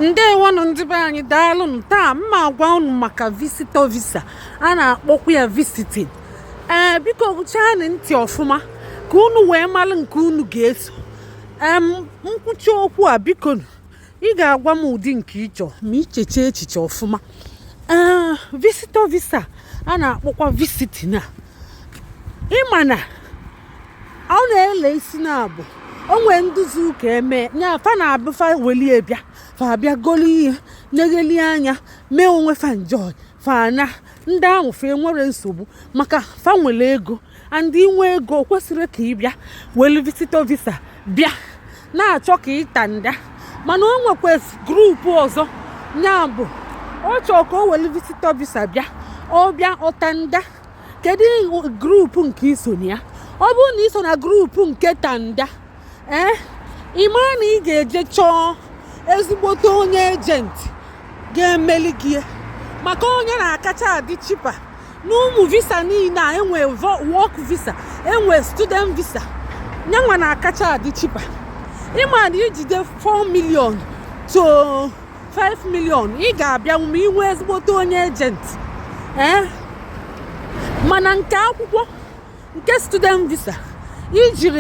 ndewonụ ndị be anyị daalụnụ taa mma agwa unu maka visitor visa a na-akpọkwa ya visiting ee biko gechaanụ ntị ọfụma ka unu wee malụ nke unu ga-eso ee m kwuchaa okwu a biko ị ga-agwa m ụdị nke ị chọ ma i chechaa echiche ọfụma ee visitor visa a na-akpọkwa visiting a ị ma na o nwele isi naabọ o nwee nduzi ụka eme nya fa na-abụ fa welie bịa fa bịa golu ihe negheli anya mee onwe fa enjoy fa naa ndị ahụ fa enwerọ nsogbu maka fa nwere ego and i nwe ego o kwesịrọ ka ị bịa welu visitor visa bịa na-achọ ka ị tanda mana o nwekwa group ọzọ nya bụ ọ chọọ ka o welu visitor visa bịa ọ bịa ọ tanda kedu group nke i so na ya ọ bụrụ na i so na group nke tanda ee eh, ị mara na ị ga-eje chọọ ezigbote onye agent ga-emeli gị maka ọ nya na-akacha adị cheaper n'ụmụ visa niile a e nwe work visa e nwe student visa nyanwa na-akacha adị cheaper ị ma na i jide 4 million to 5 million ị ga-abịanwu ma i nwe ezigbote onye agent ee eh? mana nke akwụkwọ nke student visa i jirọ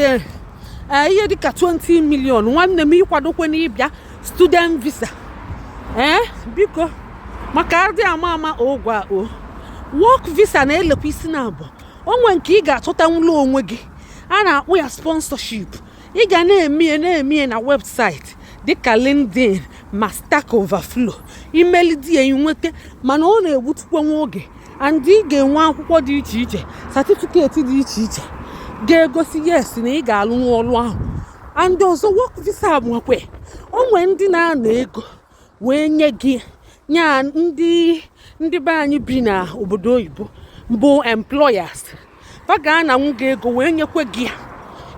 eh, ihe dịka 20 million nwanne m akwadokwana ịbịa student visa ee eh? biko maka adị ama ama ngwa o work visa nwelekwa isi naabọ o nwe nke ị ga-achọtanwula onwe gị a na-akpọ ya sponsorship ị ga na-emie na-emie na website dịka LinkedIn ma Stack Overflow i melide ya i nweta mana ọ na-egbutukwa nwa oge and ị ga-enwe akwụkwọ dị iche iche certificate dị iche iche ga-egosi yes na ị ga-alụnwu ọrụ ahụ and ọzọ work visa nwekwe o nwe ndị na-ana ego wee nye gị nya ndị ndị be anyị bi na obodo oyibo bụ employers fa ga-ananwu gị ego wee nyekwe gị ya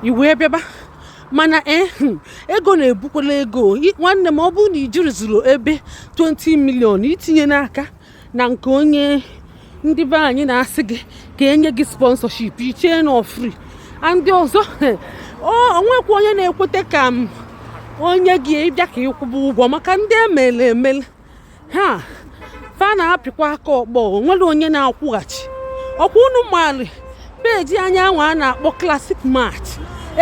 i wee bịaba mana eh, hmm, ego na-ebukwala ego nwanne m ọ bụrụ na i jirọ zuru ebe 20 million etinyena aka na nke onye ndị be anyị na-asị gị ka e nye gị sponsorship i chee na ọ free and ọzọ o nwekwa onye na-ekweta ka m nye gị ị bịa ka ị kwụba ụgwọ maka ndị emele emele ha fa na-apịkwa aka ọkpọ o nwerọ onye na-akwụghachi ọ kwa unu maali page anyị anwa a na-akpọ classic match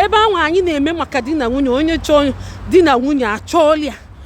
ebe anwa anyị na-eme maka di na nwunye onye chọọ di na nwunye a chọọlụ ya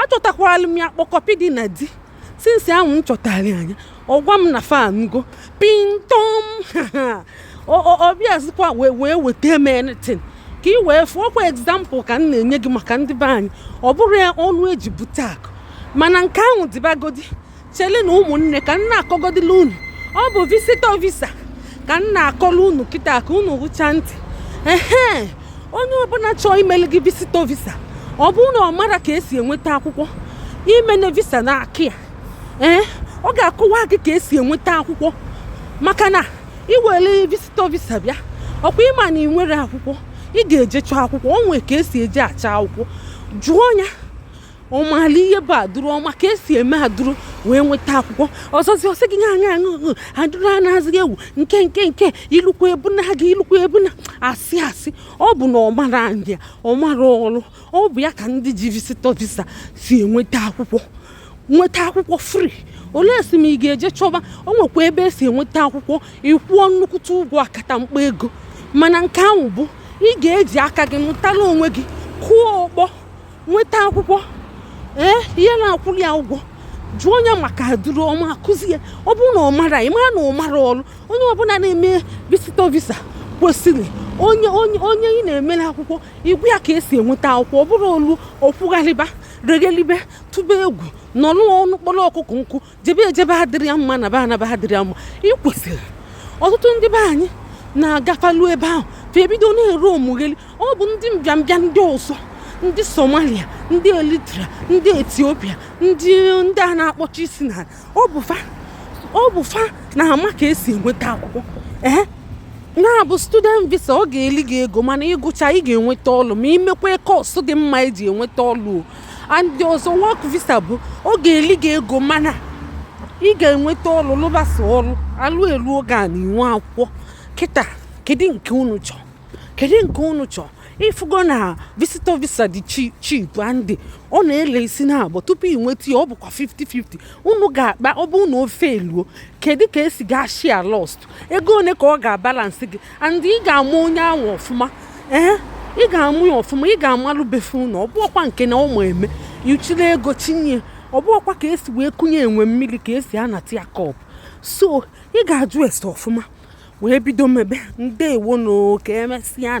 achọtakwala m ya kpọkọpi dị na di since ahụ m chọtara anya ọ gwa m na fanugo pintom ọ bịazikwa wee weta m anything ka ị wee fụọkwa example ka m na-enye gị maka ndị be anyị ọ bụrụ ya ọnụ eji bute akụ mana nke ahụ dịbagodi chele na ụmụnne ka m na-akọgodila unu ọ bụ visitor visa ka m na-akọla unu kịta ka unu hụcha ntị ehe onye ọbụla chọọ imele gị visitor visa ọ bụrụ na ọ mara ka esi enweta akwụkwọ imene visa n'aka ya ee ọ ga-akọwa gị ka esi enweta akwụkwọ maka na i were visitor visa bịa ọkwa ịma na ị nwere akwụkwọ ị ga-eje chọọ akwụkwọ o nwee ka esi eje achọ akwụkwọ jụọ ya ọ maala ihe bụ adụrụ ọ ma ka esi eme adụrụ wee nweta akwụkwọ ọzọzi ọ sị gị aṅa aṅụ adụrụ a na-azịghị egwu nke nke nke ilukwa ebuna gị ilukwa ebuna asị asị ọ bụ na ọ mara ndị a ọ mara ọrụ ọ bụ ya ka ndị ji visitor visa si enweta akwụkwọ nweta akwụkwọ free olee si m ị ga-eje chọba o nwekwa ebe esi enweta akwụkwọ ị kwụọ nnukwute ụgwọ akata mkpa ego mana nke ahụ bụ ị ga-eji aka gị mụtara onwe gị kụọ ọkpọ nweta akwụkwọ ee ihe na-akwụrụ ya ụgwọ jụọ onye maka adụrụ ọ ma akụzi ya ọ bụrụ na ọ mara ị mara na ọ mara ọrụ onye ọbụla na-eme visitor visa kwesịrị onye onye onye ị na-emere akwụkwọ ịgwa ya ka esi enweta akwụkwọ ọ bụrụ o luo ọ kwụgharịba reghelibe tụba egwu nọrọ ụnọ kpọrọ ọkụkọ nkụ jebe ejebe adịrọ ya mma naba anaba adịrọ ya mma ị kwesịrị ọtụtụ ndị be anyị na-agafalu ebe ahụ fa ebido na-ere omugheli ọ bụ ndị mbịambịa ndị ọzọ ndị somalia ndị eritrea ndị ethiopia ndị ndị a na-akpọchi isi na ọ bụ fa ọ bụ fa na-ama ka esi enweta akwụkwọ ee na-abụ student visa ọ ga-eli gị ego mana ị gụcha ị ga-enweta ọlụ ma i mekwa course dị mma eji enweta ọlụ and ọzọ work visa bụ ọ ga-eli gị ego mana ị ga-enweta ọrụ lụbasa ọrụ alụ eluo oge a na i nwe akwụkwọ kịta kedu nke unu chọọ kedu nke unu chọọ ị fụgo na visitor visa dị cheap and ọ na-ele isi na abụọ tupu ị nweta ya ọ bụkwa 50-50 unu ga-akpa ọ bụ na o fail-uo kedu ka esi ga-share loss ego one ka ọ ga-abalance gị and ị ga-ama onye ahụ ọfụma ee ị ga-ama ya ọfụma ị ga-amalụ be fa ụnọ ọ bụọkwa nke na ụmụ eme i chịrị ego chịnye ọ bụọkwa ka esi wee kunye enwe mmiri ka esi anata ya cup so ị ga-ajụ ese ọfụma wee bido mebe ndeewonụ ka emesịa